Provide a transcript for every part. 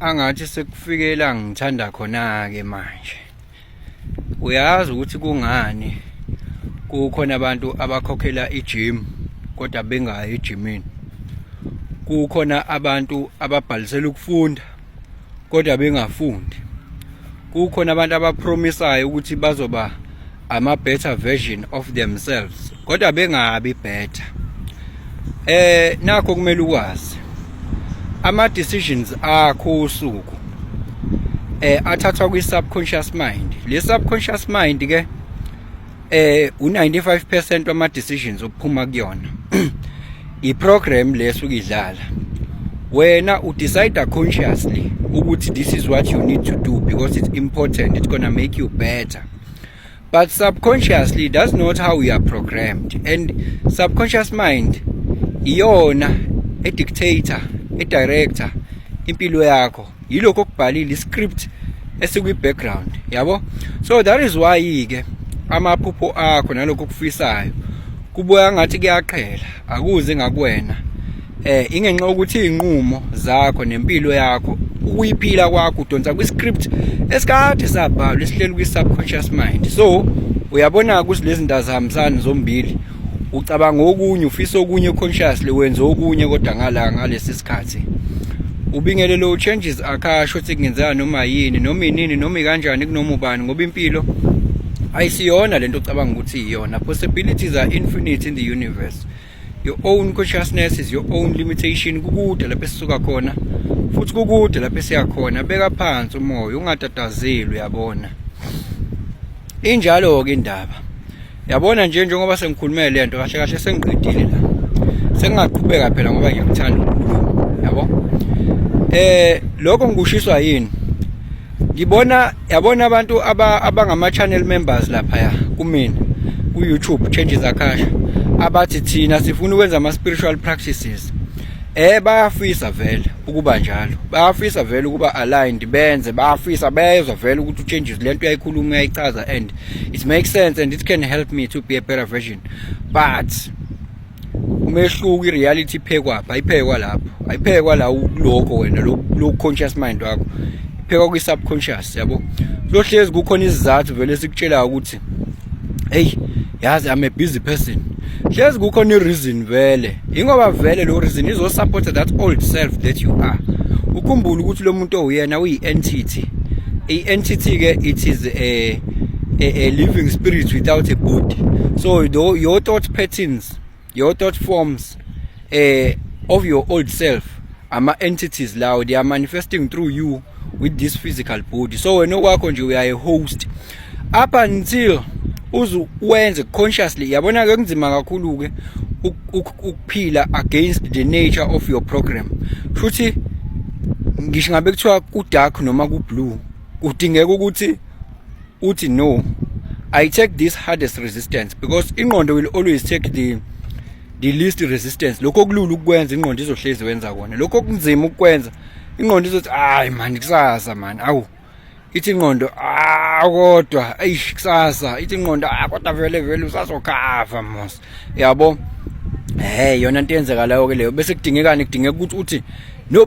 angathi sekufike la ngithanda khona-ke manje uyazi ukuthi kungani kukhona abantu abakhokhela ijim kodwa bengayi ejimini kukhona abantu ababhalisela ukufunda kodwa bengafundi kukhona abantu abapromisayo ukuthi bazoba ama better version of themselves kodwa bengabi better eh nakho kumele ukwazi ama decisions akho usuku eh athathwa kwi subconscious mind le subconscious mind ke eh u95% wama decisions ophuma kuyona i program leso ukidlala wena u decide consciously ukuthi this is what you need to do because it's important it's going to make you better but subconsciously that's not how we are programmed and subconscious mind iyona e dictator e director impilo yakho yilokho okubhalile iscript esikwi background yabo so that is why ke amaphupho akho nalokho okufisayo kubuya ngathi kuyaqhela akuze ngakuwena eh ingenxa ukuthi izinqumo zakho nempilo yakho ukuyiphila kwakho udonsa kwi script esikade sabhalwa esihleli kwi subconscious mind so uyabona ukuthi lezi ndazihambisani zombili ucabanga okunye ufisa okunye consciously wenza okunye kodwa ngala ngalesi sikhathi ubingele lo changes akasho ukuthi kungenzeka noma yini noma inini noma kanjani kunoma ubani ngoba impilo ayisiyona lento ocabanga ukuthi iyona possibilities are infinite in the universe your own consciousness is your own limitation kukude lapho esisuka khona futhi kukude lapho esiya khona beka phansi umoya ungatatazeli uyabona injalo ke indaba yabona nje njengoba sengikhulumele lento kahle kahle sengiqedile la sengingaqhubeka phela ngoba ngiyakuthanda yabo eh lokho ngikushiswa yini ngibona yabona abantu abangama channel members lapha ya kumina ku YouTube changes akasha abathi thina sifuna ukwenza ama spiritual practices eh bayafisa vele ukuba njalo bayafisa vele ukuba aligned benze bayafisa bezwa vele ukuthi uchanges lento uyayikhuluma uyayichaza and it makes sense and it can help me to be a better version but umehluko ireality iphekwa pha iphekwa lapho ayiphekwa la lokho wena lo conscious mind wakho iphekwa kwi subconscious yabo lohlezi kukhona izizathu vele sikutshela ukuthi hey yazi i'm a busy person hlezi kukhona ireason vele ingoba vele lo reason izo support that old self that you are ukhumbule ukuthi lo muntu owuyena uyi entity i entity ke it is a a, a living spirit without a body so your, your thought patterns your thought forms uh, of your old self ama entities lawo they are manifesting through you with this physical body so wena okwakho nje uyaye host up until uze wenze consciously yabona ke kunzima kakhulu ke ukuphila against the nature of your program futhi ngisho ngabe kuthiwa ku dark noma ku blue kudingeka ukuthi uthi no i take this hardest resistance because ingqondo will always take the the least resistance lokho okulula ukukwenza ingqondo izohlezi wenza kona lokho okunzima ukukwenza ingqondo izothi hayi mani kusasa mani awu ithi ingqondo ah kodwa eish kusasa ithi ingqondo ah kodwa vele vele usazokhava mos yabo hey yona into eyenzekalayo ke leyo bese kudingekani kudingeka ukuthi uthi no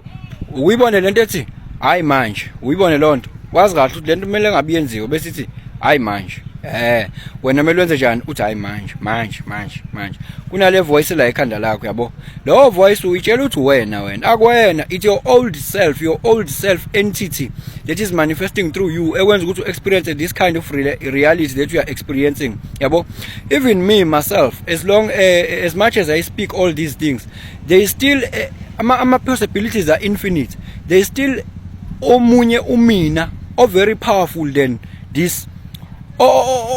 uyibone lento ethi hayi manje uyibone lonto wazi kahle ukuthi lento kumele ngabe yenziwe bese ithi hayi manje eh wena kumele wenze njani uthi hayi manje manje manje manje kunale voice la ekhanda lakho yabo lo voice uyitshela ukuthi wena wena akwena it's your old self your old self entity that is manifesting through you ekwenza ukuthi u experience this kind of reality that you are experiencing yabo even me myself as long uh, as much as i speak all these things there is still uh, eh, ama, ama possibilities are infinite there is still omunye umina o very powerful than this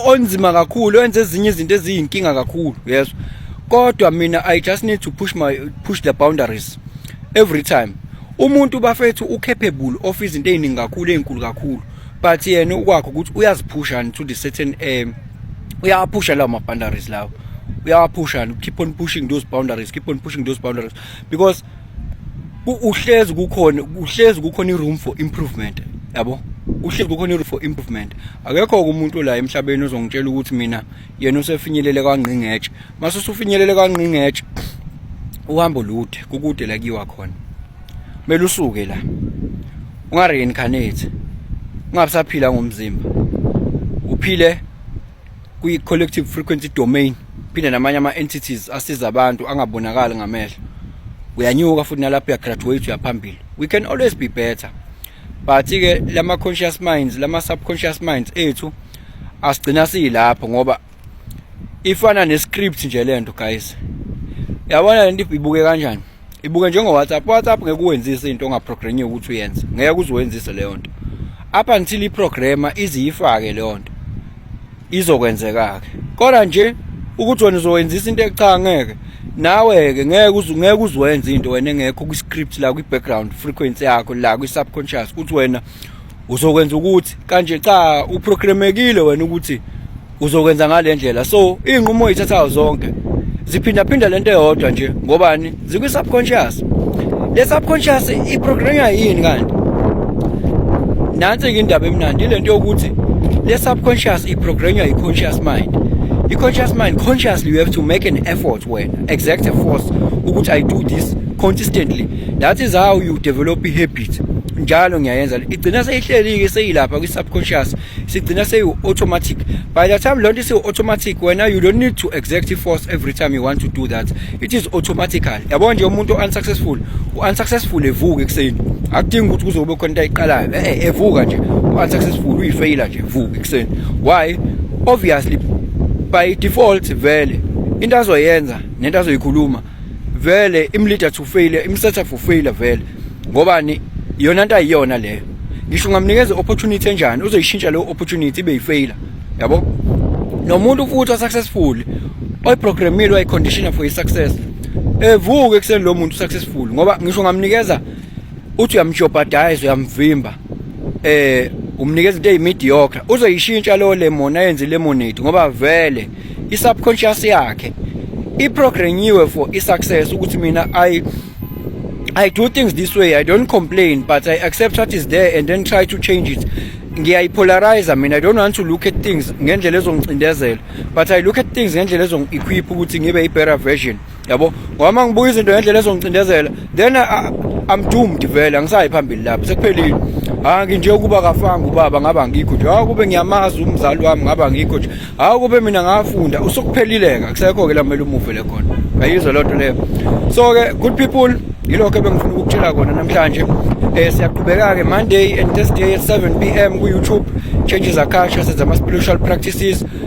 onzima kakhulu wenza ezinye izinto eziyinkinga kakhulu yes kodwa mina i just need to push my push the boundaries every time umuntu bafethu ucapable of izinto eziningi kakhulu ezinkulu kakhulu but yena ukwakho ukuthi uyaziphusha to the certain um uyawaphusha lawo ma-boundaries lawo uyawaphusha keep on pushing those boundaries keep on pushing those boundaries because uhlezi kukhona uhlezi kukhona i-room for improvement yabo uhlezi kukhona i-room for improvement akekho-ke umuntu la emhlabeni ozongitshela ukuthi mina yena usefinyelele kwangqingetshe mase usufinyelele kwangqingetshe uhambo lude kukude la kuyiwa khona kumele usuke la unga reincarnate ungabusaphila ngomzimba uphile kwi collective frequency domain phinde namanye ama entities asiza abantu angabonakali ngamehlo uyanyuka futhi nalapho uya graduate uyaphambili we can always be better but ke lama conscious minds lama subconscious minds ethu asigcina silapho ngoba ifana ne script nje lento guys yabona lento ibuke kanjani ibuke njengo WhatsApp WhatsApp ngeke uwenzise into ongaprogramiwe ukuthi uyenze ngeke uziwenzise leyo nto up until iprograma iziyifake leyo nto izokwenzeka ke kodwa nje ukuthi wena uzowenzisa into echa ngeke nawe ke ngeke uzu ngeke uzwenze into wena engekho kwi script la kwi background frequency yakho la kwi subconscious ukuthi wena uzokwenza ukuthi kanje cha uprogramekile wena ukuthi uzokwenza ngale ndlela so iy'nqumo oyithathayo zonke ziphindaphinda le nto eyodwa nje ngobani zikwi-subconscious le subconscious iprograma yini kanti nansi-ke indaba emnandi ile nto yokuthi le subconscious iprograma yi-conscious mind i-conscious mind consciously you have to make an effort wena exact force ukuthi i do this consistently that is how you develop i-habit njalo ngiyayenza igcina seyihleli-ke seyilapha kwi-subconscious sigcina seyiwu-automatic by the time loo nto isiwu-automatic wena you don't need to exact force every time you want to do that it is automatical yabo nje umuntu o-unsuccessful u-unsuccessful evuka ekuseni akudingi ukuthi kuzobe khona into ayiqalayo e-e eh, evuka nje u-unsuccessful uyifeyila nje evuka ekuseni why obviously by default vele into azoyenza nento azoyikhuluma vele imleader to fail imsetha for failure vele ngobani yona into ayiyona leyo ngisho ungamnikeza opportunity enjani uzoyishintsha leyo opportunity ibe yifailure yabo nomuntu futhi osuccessful oyiprogramile wayiconditioner for i-success evuke ekuseni lo muntu successful ngoba ngisho ungamnikeza uthi uyamjobhadayiza uyamvimba eh umnikeza into eyimediocre uzoyishintsha leyo lemon ayenze lemonade ngoba vele i-subconscious yakhe iprogrammiwe for i-success ukuthi mina i I do things this way I don't complain but I accept what is there and then try to change it ngiyayipolarize mina I don't want to look at things ngendlela ezongicindezela but I look at things ngendlela ezong-equip ukuthi ngibe i-better version yabo ngoba uma ngibuka izinto ngendlela ezongicindezela then I'm doomed vele angisayi phambili lapho sekuphelile hayi nginje ukuba kafanga ubaba ngaba ngikho nje hayi kube ngiyamazi umzali wami ngaba ngikho nje hayi kube mina ngafunda usukuphelileka kusekho ke lamele umuve le khona ayizwa lento leyo so ke good people yilokho ebengifuna ukukutshela kona namhlanje eh siyaqhubeka ke Monday and Thursday at 7 pm ku YouTube changes akasha senza ama spiritual practices